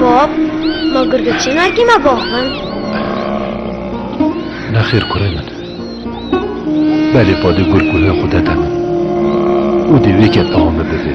Bab, ma gurgurçê nergî me bax min. Nexêr kurê min. Belê padê gur ku hê xwe dede min. Û dê wê ket ewa me bivê.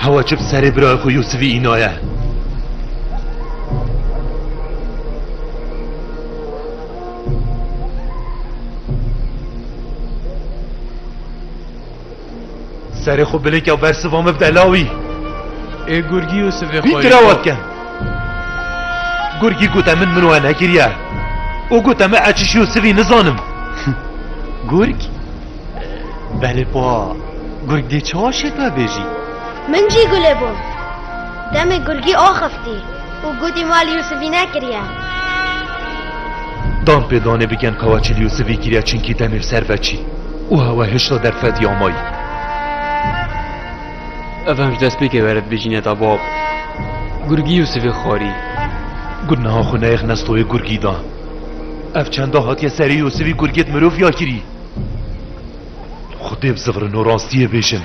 Hewa çi bi serê birayê xwe Yûsivî înaye. Serê xwe bilêk ya ber siva me bide lawî. Ê gurgî û sivê xwe. Vî tirawa dikin. Gurgî gote min min we nekiriye. Û gote me ez çişî û sivî nizanim. Gurg? Belê pa. Gurg dê çawa şêt me bêjî? Min jî gulê bû. Demê gurgî axeftî. û gotî ma li Yûsifî nekiriye. Dan pê danê bigen ka we çi li Yûsifî kiriye çinkî demê bi ser ve çî û hewa hişta derfetî amayî. Ev hem ji destpêkê were dibêjîne da bab, gurgî Yûsifê xwarî. Got niha xwe neyêx nestoyê gurgî da. Ev çenda hatiye serê Yûsifî gurgê di mirov ya kirî. Xwedê bi zivirin û rastiyê bêjin.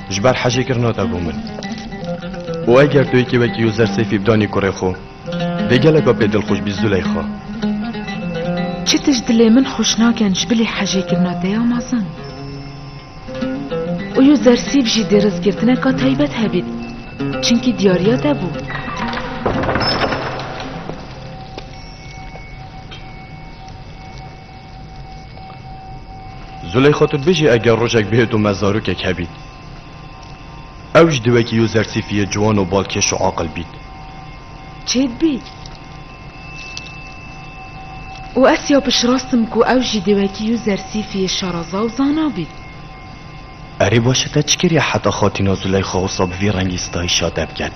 ji ber hejê kir nate bo min. û eger tu yekê wekî Yozer Seyfî bidanî kurê xwe, dê geleka pê dilxweş bî Zûleyxa. Çi tişt dilê min xweş nakin ji bilî hejê kir nate ya mezin. Û Yozer Seyf jî dê rizgirtineka taybet hebît, çimkî diyariya te bû. Zuleyxa tu bijî eger rojek bihêt û me zarokek hebît. Ew ji diwekî yo zersîfiyê ciwan û balkêş û aqil bît. Çêd bî. Û ez ya pişirastim ku ew jî diwekî yo zersîfiyê şaraza û zana bît. Erê baş e te çi kiriye heta xatîna Zuleyxa wisa bi vî rengî stayîşa te biket?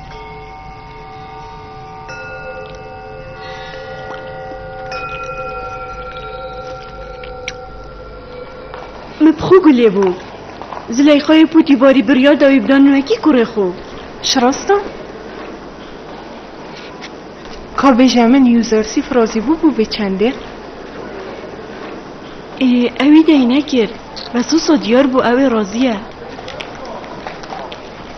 Me bi xwe gulê bû. Zileyxayê pûtî barî biryar da wî bida nûekî kurê xwe. Ji rast e? Ka bêje min usersî firazî bû bû bê çendê? Ê ew îdeyî nekir. Bes wisa diyar bû ew ê razî ye.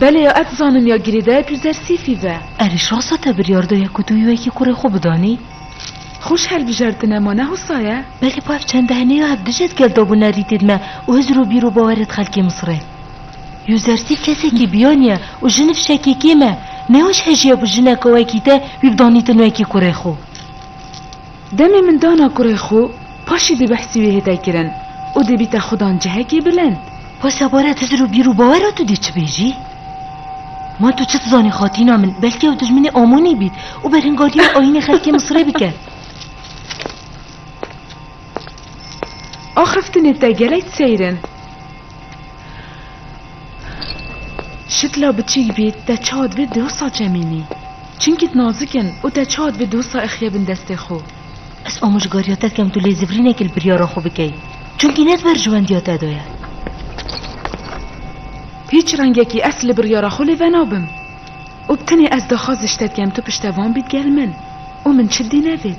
Belê ya ez zanim ya girêdayek li ser sîfî be. Erê şasa te biryar daye ku tu wî wekî kurê xwe bidanî? Xweş hilbijartine ma ne hosa ye? Belê ba ev çende hene ya ev dijet gel dabûne rîtê di me û hizir û bîr û bawerê di xelkê Misirê. Yuzersîf kesekî biyanî ye û jin fişekê kêm e. Nêwaş hejî ye bi jineke wekî te wî bidanîtin wekî kurê xwe. Demê min dana kurê xwe, paşê dê behsî wê hête kirin û dê bîte xudan cihekê bilind. Wê sebare tu ji ro bîr û bawera tu dê çi bê jî? Ma tu çi dizanî xatîna min, belkî ew dijminê Amonî bît û berhingariya ayînê xelkê Misirê bike. Axiftinê te gelek seyr in. Şikla biçîk bî te ça dibê dosa çemînî. Çinkî tu nazik in û te ça dibê dosa ixîye bin destê xwe. Ez amojgariya te dikim tu lêzivirînekî li biryara xwe bikey. Çinkî ne di berjewendiya te de ye. Hîç rengekî ez li biryara xwe lê venabim. Û bi tenê ez daxwaz ji te dikim tu piştevan bî digel min û min çi dî nevêt.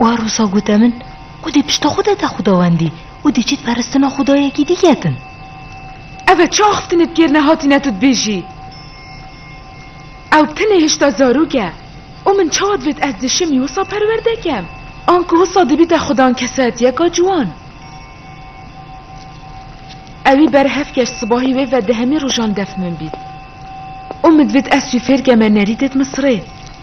Wa rosa gote min ku dê pişta xwe de te xwedawendî û dê çêt peristina xwedayekî dî ketin. Ev e çi axiftinê bi kêr nehatîne tu dibêjî? Ew tenê hişta zarok e û min çawa divêt ez di şemî wisa perwerde kem? Anku wisa dibîte xwedan kesayetiyeka ciwan. Ewî ber heft keç sibahî wê ve di hemî rojan def min bît û min divêt ez wî fêr keme nerî dêt min sirê.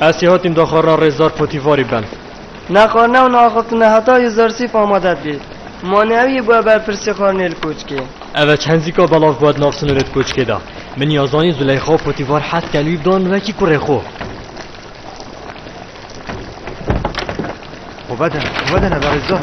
Ez çê hatîm daxwarina rêzdar Potifarî ben. Nexwarina û naxistina heta Yuzarsîf amade dibî. Mane ew yê bûe berpirsê xwarinê li koçkê. Ev e çenzîka belav bûe di nav sinûrê di koçkê de. Min ya zanî Zuleyxa û Potîfar hez dikin wî bidan wekî kurê xwe. Xwe vedin, xwe vedin ev e rêzdar.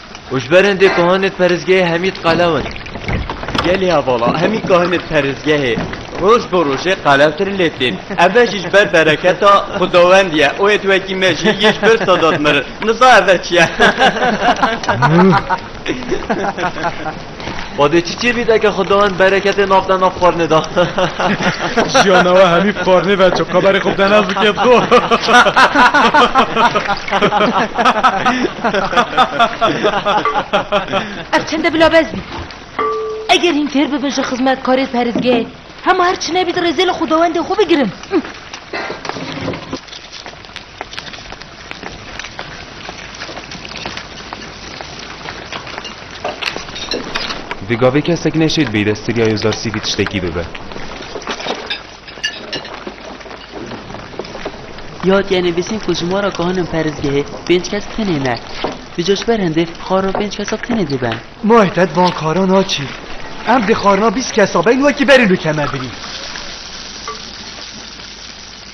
Û ji ber hindê kohanê perêzgehê hemî di qelew in. Gelê hevala hemî kohanê perêzgehê roj bi rojê qelewtir lê tên. Eve jî ji ber bereketa xwedawendî ye. Oyê tu wekî me jî yê ji ber Sedat mirin. Niza eve çi ye? Badê çi çêbî deke xwe dawin bereketê nav de nav xwarinê da. Jiyana we hemî xwarinê ve ço xeberê xwe bide naz dikê xwe. Ev çende bila bez bî. Eger hîn fêr bibin ji xizmetkarê perîzgehê hema her çi nebî di rêzê li xwedawendê xwe bigirin. Di gavê kesek neşêt bê dest tirya yo zar sîvî tiştekî bibe. Ya tîya nivîsîn ku ji mora ku hanin perizgehê pênc kes tenê ne. Di coj ber hindê xwar û pênc kesa tenê diben. Ma heta di van xwaran a çî. Em di xwarina bîst kesa beyn wekî berîn û keme birîn.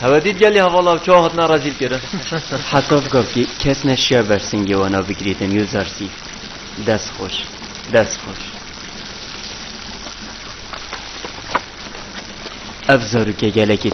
Hevedît gelî hevala çawa hatina rezîl kirin. Heta gav ki kes neşiya bersingê wana bigirîtin yû zersî. Dest xweş. Dest xweş. Ev zarokê gelekî